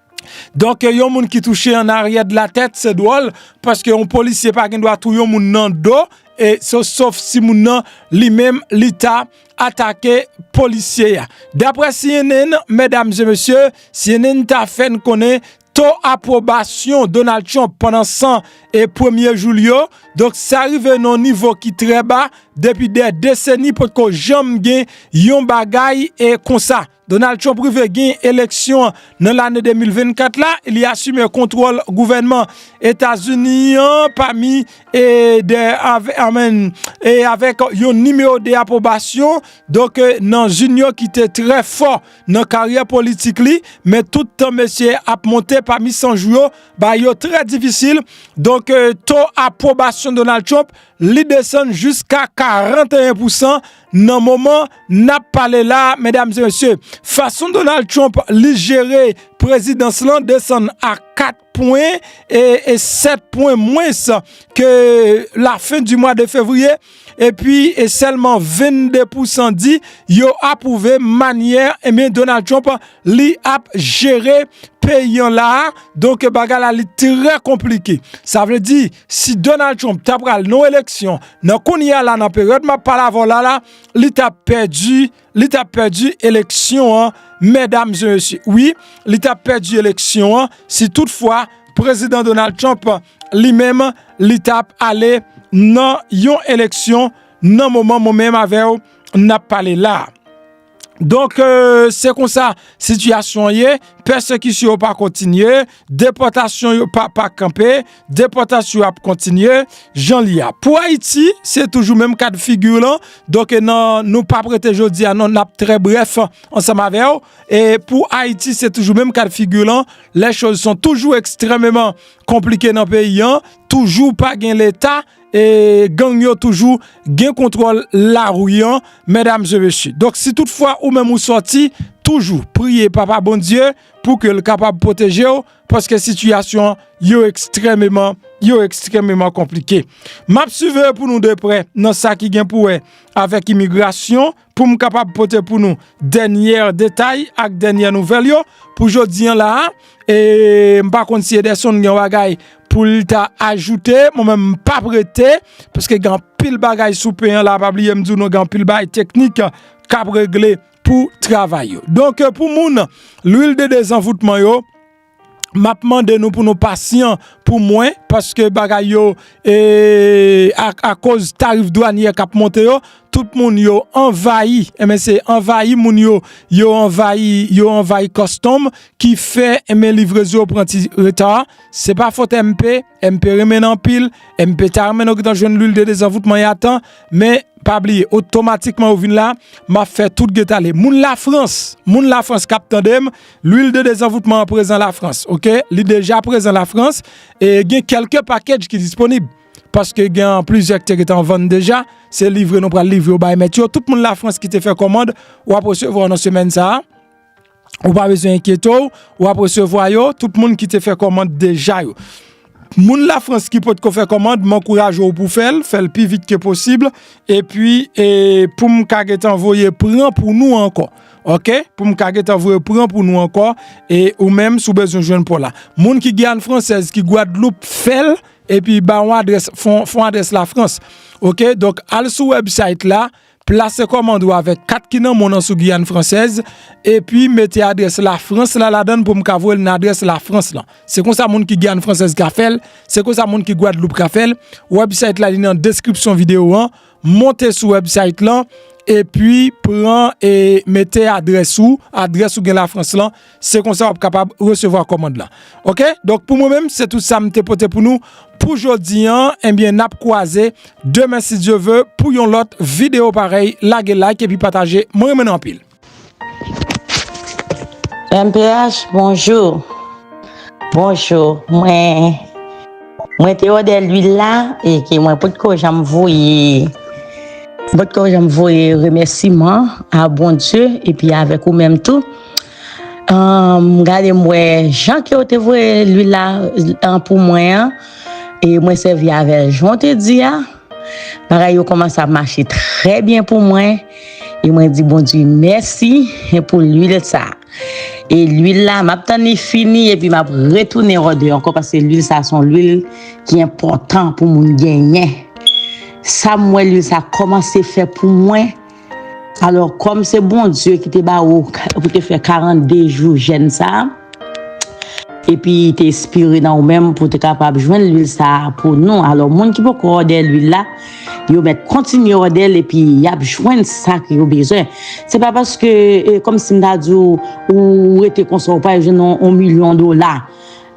S1: Donk yon moun ki touche an aryè de la tèt se dwòl paske yon polisye pa gen dwa touye yon moun nan do e se sof si moun nan li menm li ta atake polisye a. Daprè cnn, medam e mesye, cnn ta fè n konnen to apwobasyon Donald Trump pandan 100 e premye jou l yo, donk sa rive nan yon nivo ki trè ba depi dè deseni potko janm gen yon bagay e konsa. Donald Trump rive genyen eleksyon nan lane 2024 la, li asime kontwòl gouvènman Etazini an pami e avèk yon nimewo 2 apwobasyon, donk nan zin yo ki te trè fò nan karyè politik li, men tout tan mesye ap monte pami 100 jou yo, ba yo trè difisil, donk to apwobasyon Donald Trump li desann jiska 41 pousan Nan moman nap pale la medam e mesye fason Donald Trump li jere prezidans lan desann a 4 pwen e 7 pwen mwens ke la fen di mwa de fevriye epi e selman 22 pousan di yo apouve manyè ebyen eh Donald Trump li ap jere peyi an la donk bagay la li trè konplike sa vle di Si Donald Trump ta pral nan eleksyon, nan kounye a la nan peryòd map pale avò la la, li ta pèdi, li ta pèdi eleksyon an, mèdam e mesye. Wi, li ta pèdi eleksyon an si tout fwa prezidan Donald Trump li menm li ta ale nan yon eleksyon nan moman mwen menm avèw nap pale la. Donk se konsa sitiyasyon ye, pèsekisyon yo pa kontinye, depòtasyon yo pa pa kanpe, depòtasyon yo ap kontinye, jan li a. Pou Ayiti, se toujou menm kad figi lan, donk e nan nou pa prete jodi a nan nap trè bref ansanm avè w, e pou Ayiti se toujou menm kad figi lan, lè choz son toujou ekstrememan konplike nan peyi an, toujou pa gen leta, e gang yo toujou gen kontwòl lari an medam e mesye donk si tout fwa ou menm ou sòti toujou priye papa Bondye pou ke l kapab pwoteje w paske sitiyasyon yo ekstrememan yo ekstrememan konplike map siveyo pou nou deprè nan sa ki gen pou wè avèk imigrasyon pou m kapab pote pou nou dènyè detay ak dènyè nouvèl yo pou jodi an la a, e m pa konn si Ederson gen yon bagay pou l ta ajoute, mwen menm m pa prete, paske gen anpil bagay sou pen an la a, pa bliye m di w nou gen anpil bagay teknik k ap regle pou travay yo. Donk pou moun lwil de dezanvoutman yo. Map mande nou pou nou pasyan pou mwen paske bagay yo akoz tarif dwanye kap monte yo tout moun yo anvayi enben se anvayi moun yo yo anvayi yo anvayi kòstonm ki fè enben livrezon yo pran ti reta se pa fòt MP. MP renmen n anpil, MP ta renmen nou gentan jwenn lwil de dezanvoutman y atan, men pa bliye otomatikman ou vin la, m ap fè tout geta le. Moun Lafrans, moun Lafrans k ap tande m, lwil de dezanvoutman an prezan Lafrans, ok, li deja prezan Lafrans, e gen kèlke pakedj ki disponib, paske gen an plizyè k te gentan an vann deja, se livre nou pral livre yo bay mèt yo, tout moun Lafrans ki te fè kòmand, w ap resevwa nan semèn sa a. Ou pa bezwen enkyete w, w ap resevwa yo, tout moun ki te fè kòmand deja yo. Moun la Frans ki pot ko fè kòmand, m ankouraje w pou fè l, fè l pi vit ke posib, e pi pou m ka gentan voye pran pou nou ankò. Ok, pou m ka gentan voye pran pou nou ankò, e ou menm sou bezwen jwenn pou la. Moun ki Guyane Française, ki Guadeloupe, fè l, e pi ba yon adrès, fon adrès la Frans. Ok, donk al sou website la. Plase kòmand ou avèk kat ki nan mon an sou Guyane Française epi mete adrès la France la ladann pou m ka voye l nan adrès la France lan. Se konsa moun ki Guyane Française ka fè l, se konsa moun ki Guadeloupe ka fè l. Website la li nan description vidéo an. Monte sou website lan epi pran e mete adrès ou, adrès ou gen la France lan, Se konsa wap kapab resevwa kòmand lan. Ok donk pou mwen menm se tout sa m te pote pou nou pou jodi an ebyen nap kwaze demen si Dye ve pou yon lòt video parèy lage like epi pataje mwen renmen nou anpil.
S2: Mph bonjou bonjou mwen mwen te odè lwil la e ke mwen potko janm voye potko janm voye remèsiman a Bondye epi avèk ou menm tou. Humm gade m wè jan ke ou te voye lwil la pou mwen an e mwen sèvi avèl jan ou te di a bagay yo kòmanse ap mache trè byen pou mwen e mwen di Bondye mèsi pou lwil sa e lwil la m ap tann li fini epi m ap retounen wè w de ankò paske lwil sa son lwil ki enpòtan pou moun genyen sa m wè lwil sa kòmanse fè pou mwen. Alò kòm se Bondye ki te ba ou pou te fè 42 jou jèn sa, epi li te espire nan ou menm pou te kapab jwenn lwil sa pou nou, alò moun ki poko òdè lwil la, yo mèt kontinye òdè l epi y ap jwenn sa ke yo bezwen. Se pa paske, kòm si m ta di ou, ou rete konsa ou pa jwenn yon milyon dola.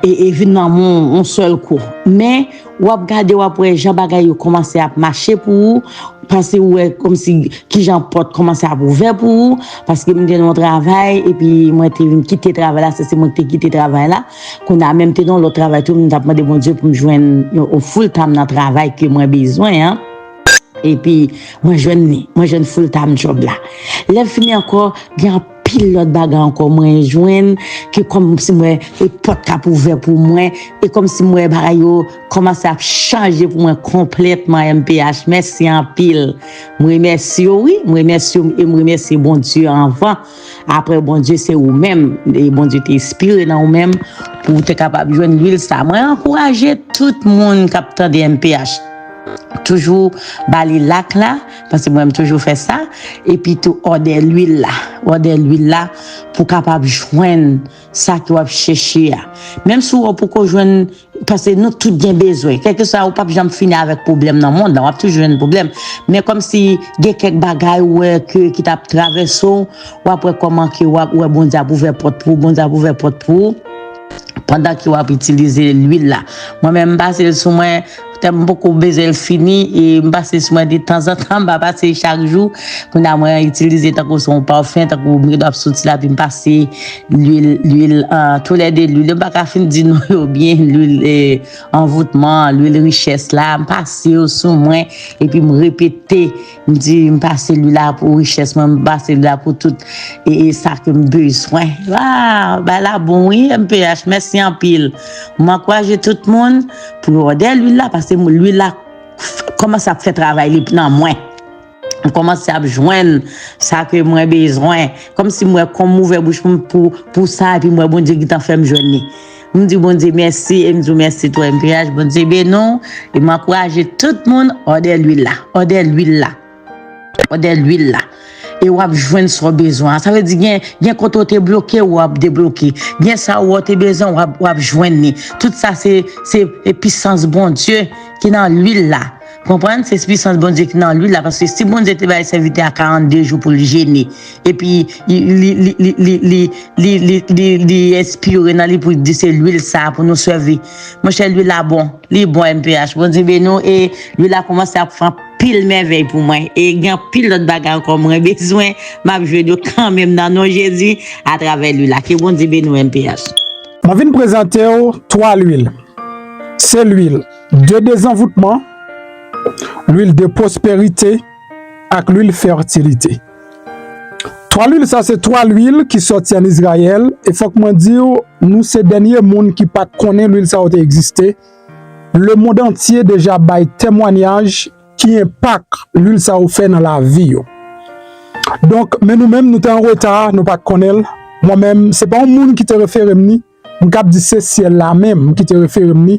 S2: e vin nan men w yon sèl kou. Men, w ap gade, w ap wè jan bagay yo kòmanse ap mache pou ou, panse ou wè kòmsi ki jan pòt kòmanse ap ouvè pou ou, paske m te nan yon travay, epi mwen te vin kite travay la, se se mwen ki te kite travay la, kounye a menm te nan yon lòt travay tou, m t ap mande Bondye pou m jwenn yon full time nan travay ke mwen bezwen an, epi mwen jwenn li, mwen jwenn full time job la. Lè m fini ankò, gen anpil. pil lòt bagay ankò mwen jwenn ke kòm si m wè e pòt k ap ouvè pou mwen e kòm si m wè bagay yo kòmanse ap chanje pou mwen konplètman mph mèsi anpil m remèsye w wi m remèsye w e m remèsye Bondye anvan aprè Bondye se ou menm e Bondye te espire nan ou menm pou w te kapab jwenn lwil sa mwen ankouraje tout moun k ap tande mph toujou ba li lak la. Paske mwen m toujou fè sa epi tou òdè lwil la òdè lwil la pou kapab jwenn sa ke wap chèche a menm si ou poko jwenn paske nou tout gen bezwen kèlkeswa ou pap janm fini avèk pwoblèm nan mond lan wap toujou jwenn pwoblèm men kòmsi gen kèk bagay ou wè ke ki tap travèse ou wap wè kòman ke wap wè Bondye ap ouvè pòt pou ou Bondye ap ouvè pòt pou ou pandan ke wap itilize lwil la mwen menm m pase l sou mwen. Tèlman m poko bezwen l fini e m pase sou mwen detanzantan m pa pase chak jou. Kounye a mwen itilize tankou se yon pafen tankou m gentan ap soti la epi m pase lwil lwil tou lè 2 lwil yo m pa ka fin di non yo byen lwil anvoutman lwil richès la m pase yo sou mwen epi m repete M di m pase li la pou richès mwen, m pase li la pou tout e sa ke m bezwen. Waw bagay la bon wi mph mèsi anpil. M ankouraje tout moun pou yo òdè lwil la pase lwil la kòmanse ap fè travay li nan mwen. M kòmanse ap jwenn sa ke mwen bezwen. Kòmsi m wè kòm m ouvè bouch mwen pou sa epi m wè Bondye gentan fè m jwenn li. M di Bondye mèsi e m di w mèsi tou mph Bondye beni w e m ankouraje tout moun òdè lwil la òdè lwil la òdè lwil la e wap jwenn sa w bezwen an sa vle di gen gen kote w te bloke w wap debloke gen sa w wè te bezwen wap wap jwenn li tout sa se se e pisans Bondye ki nan lwil la konprann se pisans Bondye ki nan lwil la paske si Bondye te bay sèvitè a 42 jou pou l jene Epi li espire nan li pou di se lwil sa pou nou sèvi. Monchè lwil la bon, li bon mph. Bondye beni w e lwil la koumanse ap fè anpil mèvèy pou mwen e gen anpil lòt bagay ankò mwen bezwen map jwenn yo kanmenm nan non Jezi atravè lwil la. Ke Bondye beni w mph. Mwen vin
S1: prezante w 3 lwil. Se lwil de dezanvoutman, lwil de pwosperite ak lwil fètilite. 3 lwil sa se 3 lwil ki soti an Izrayèl e fòk mwen di ou nou se dènye moun ki pat konnen lwil sa yo te egziste. Le mond antye deja bay temwanyaj ki enpak lwil sa yo fè nan lavi yo. Donk men nou menm nou te an reta nou pat konnen l. Mwen menm se pa yon moun ki te refere m ni. M kab di se syèl la menm m kite refere m li,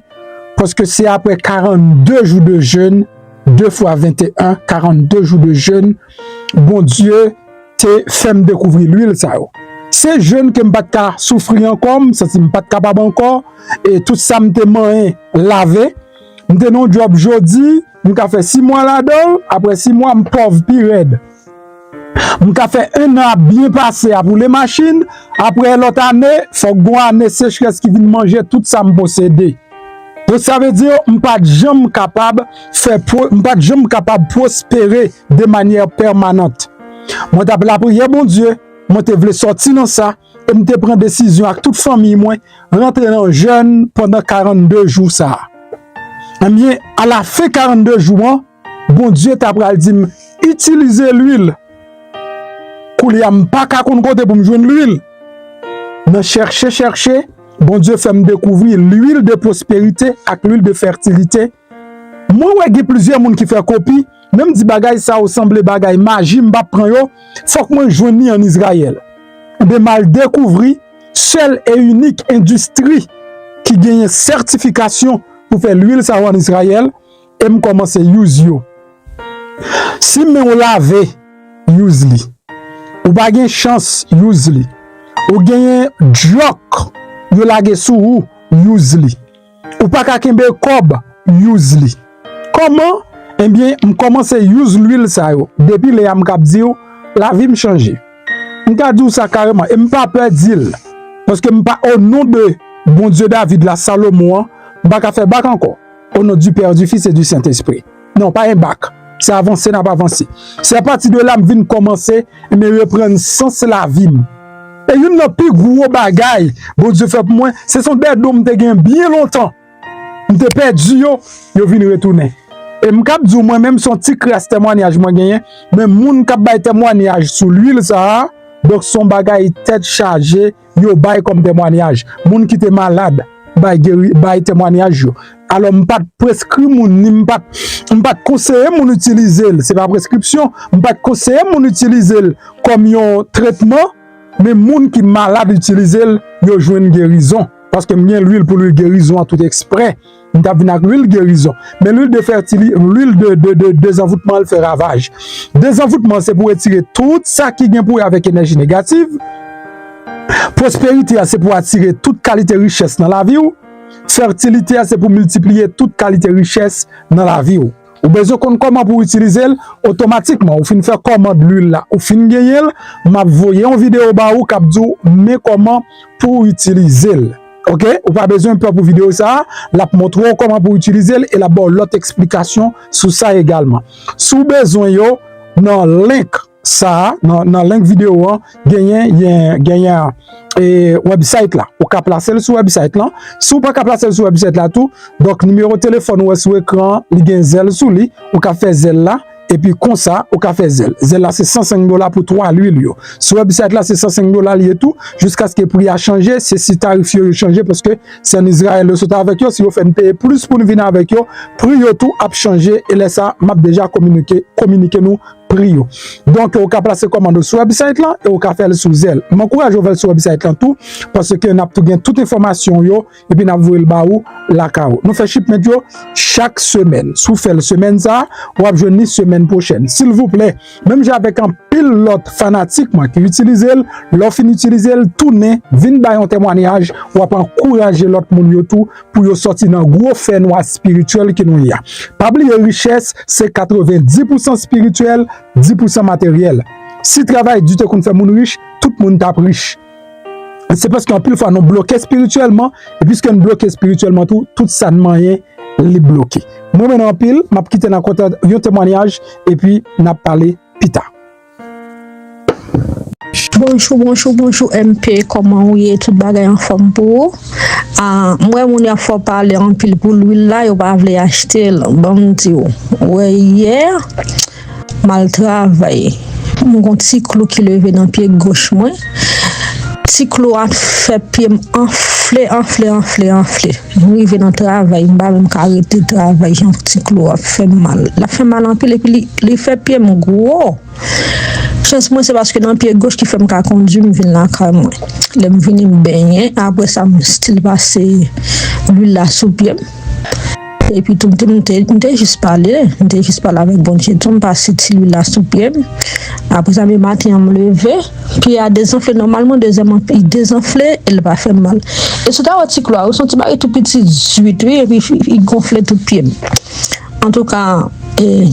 S1: paske se apre 42 jou de jèn, 2 fwa 21, 42 jou de jèn, Bondye te fè m dekouvri lwil sa yo. Se jèn ke m pa t ka soufri ankò, m santi m pa t kapab ankò, e tout sa m te manyen lave, m te nan yon djòb jodi, M ka fè 6 mwa ladan l, aprè 6 mwa m pòv pi rèd. M ka fè 1 an ap byen pase ap woule machin, aprè lòt ane, fòk gon ane sechrès ki vin manje tout sa m posede. Donk sa vle di m pa t janm kapab fè pwo, m pa t janm kapab pwospere de manyè pèmanant. Mwen t ap lapriyè Bondye, mwen te vle sòti nan sa. e m te pran desizyon ak tout fanmiy mwen rantre nan jèn pandan 42 jou sa a. Ebyen, a la fen 42 jou an, Bondye ta pral di m, itilize lwil. Koulye a m pa ka konn kote pou m jwenn lwil. Nan chèche chèche, Bondye fè m dekouvri lwil de pwosperite ak lwil de fètilite. Mwen wè gen plizyè moun ki fè kopi, men m di bagay sa yo sanble bagay maji m pap pran yo, fòk mwen jwenn li an Izrayèl. Enben m al dekouvri sèl e inik endistri ki genyen sètifikasyon pou fè lwil sa yo an Izrayèl e m kòmanse use yo. Si men w lave, use li. Ou pa gen chans, use li. Ou genyen dyòk yo lage sou ou, use li. Ou paka kenbe kob use li. Koman ebyen m komanse use lwil sa yo depi lè a m kap diw lavim chanje m ka diw sa kareman e m pa pè dil paske m pa o non de Bondye David la Salomon an m paka fè bak ankò o non du père du fils et du saint esprit. Non pa gen bak, se avanse nap avanse. Se apati de la m vin kòmanse me reprann sans lavi m. E youn nan pi gwo bagay Bondye fè pou mwen, se son dè don m te gen byen lontan, m te pèdi yo, yo vin retounen. E m kab di w mwen menm son ti kras temwanyaj mwen genyen, men moun kap bay temwanyaj sou lwil sa a, donk son bagay tèt chaje. yo bay kòm temwanyaj. Moun ki te malad bay temwanyaj yo. Alò m pa t preskri moun ni m pa t konseye moun itilize l, se pa preskripsyon, m pa t konseye moun itilize l kòm yon tretman, men moun ki malad itilize l, yo jwenn gerizon, paske m gen lwil pou lwil gerizon an touteksprè. Li tap vin ak lwil gerizon. Men lwil de fètili, lwil de dezanvoutman li fè ravaj. Dezanvoutman se pou retire tout sa ki gen pou wè avèk enèji negatif. Pwosperite a se pou atire tout kalite richès nan lavi ou. Fètilite a se pou miltipliye tout kalite richès nan lavi ou. Ou bezwen konn kòman pou w itilize l otomatikman, ou fin fè kòmand lwil la, ou fin genyen l, m ap voye yon videyo ba ou k ap di w men kòman pou w itilize l ok, ou pa bezwen pè pou videyo sa, l ap montre w kòman pou w itilize l e l ap ba w lòt esplikasyon sou sa egalman. Si w bezwen yo nan link. Sa a nan link video an genyen genyen e website la ou ka plasel sou website lan si ou paka plasel sou website la tou donk nimewo telefòn ou wè sou ekran an li gen zèl sou li ou ka fè zèl la epi konsa ou ka fè zèl zèl la se 105 dola pou 3 lwil yo sou website la se 105 dola li ye tou jiskaske pri a chanje se si tarif yo yo chanje paske se an Izrayèl yo sot avèk yo si yo fè n peye plis pou n vin avèk yo pri yo tou ap chanje e lè sa map deja kominike kominike nou pri yo. Donk ou ka plase kòmand ou sou wèbsite lan e ou ka fèl sou zèl. M ankouraje ou fèl sou wèbsite lan tou paske nap tou gen tout enfòmasyon ou yo epi nap voyel ba ou lakay ou. Nou fè shipment yo chak semèn. Si w fèl semèn sa, wap jwenn li semèn pwochèn. Silvouplè, menm jan avèk anpil lòt fanatik mwen ki itilizel, lè w fin itilizel, tounen vin bay yon temwanyaj, wap ankouraje lòt moun yo tou pou yo sòti nan gwo fè nwa espirityèl ke nou ye a. Pa bliye richès se 90 pousan espirityèl, 10 pousan materyèl. Si travay di te konn fè moun rich, tout moun tap rich. Se paske anpil fwa nou bloke espirityèlman, e piske nou bloke espirityèlman tou, tout sa nou manyen li bloke. Mwen renmen nou anpil, map kite nan kontan yon temwanyaj, epi nap pale pita.
S3: Bonjou bonjou bonjou MP kòman ou ye tout bagay anfòm pou ou m wè moun yo ap fè w pale anpil pou lwil la yo pa vle achte l bon m di w wè yè m al travay m gon ti klou ki leve nan pye goch mwen ti klou a fè pye m anfle anfle anfle anfle. M rive nan travay m pa menm ka rete travay jan ti klo ap fèm mal lap fèm mal anpil epi li fè pye m gwo chans mwen se paske nan pye goch ki fèm ka kondwi m vin lakay mwen lèm vini m benyen aprè sa m stil pase lwil la sou pye m epi tou m te jis pale m te jis pale avèk Bondye tou m pase ti lwil la sou pye m aprè sa dematen an m leve. Pye a dezanfle nòmalman, dezyèman li dezanfle e li pa fè mal. E si w ta wè ti klo a, yo se yon ti bagay tou piti zwit wi epi li gonfle tout pye m. Antouka e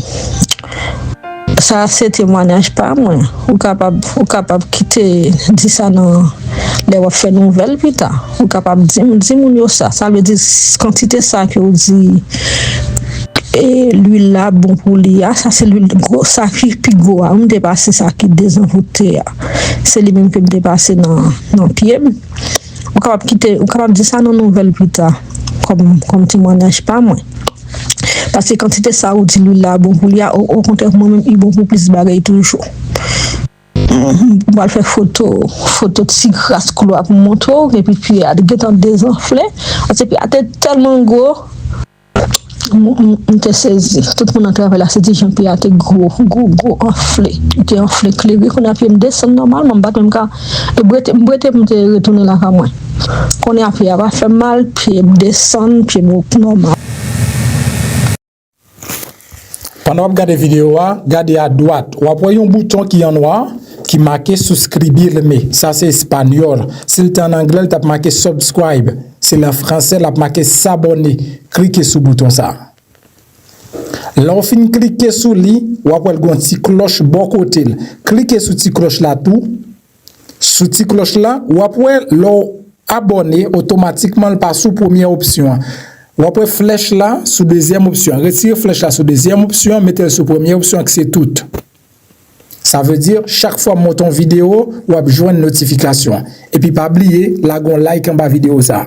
S3: sa a se temwanyaj pa mwen, ou kapab kite di sa nan lè w ap fè nouvèl pita. Ou kapab di m, di moun yo sa, sa vle di kantite sa ke ou di lwil la bon pou li a, sa se lwil gwo, sa ki pi gwo a, ou m te pase sa ki dezanvoute a, se li menm ke m te pase nan pye m, ou kapab kite, ou kapab di sa nan nouvèl pi ta, kòm temwanyaj pa mwen. Pase kantite sa ou di lwil la bon pou li a, okontrè mwen menm li bon pou plis bagay toujou. Ou pral fè foto, foto ti kras klo a pou montre w epi pye a gentan dezanfle, pase pye a te tèlman gwo, m te sezi, tout moun nan travay la se di jan pye a te gwo, gwo, gwo, anfle, li te anfle klere, kounye a pye m desann nòmalman, m pa t menm ka, m bwete, m bwete pou m te retounen lakay mwen, kounye a pye a pa fè m mal, pye m desann, pye m nòmal.
S1: Pandan wap gade video a, gade a dwat, wap wè yon bouton ki an nwa ki make suscribirme, sa se espanyòl, si l te an anglè l tap make subscribe, si l an fransè lap make s'abonner, klike sou bouton sa. Lè w fin klike sou li, wap wè l gen yon ti klòch bò kote l, klike sou ti klòch la tou. Sou ti klòch la, wap wè lè w abòne otomatikman l pa sou premyè opsyon an. Wap wè flèch la sou dezyèm opsyon an. Retire flèch la sou dezyèm opsyon an mete l sou premyè opsyon an ki se tout. Sa vle di chak fwa m monte yon videyo wap jwenn notifikasyon. Epi pa bliye lage yon like anba videyo sa.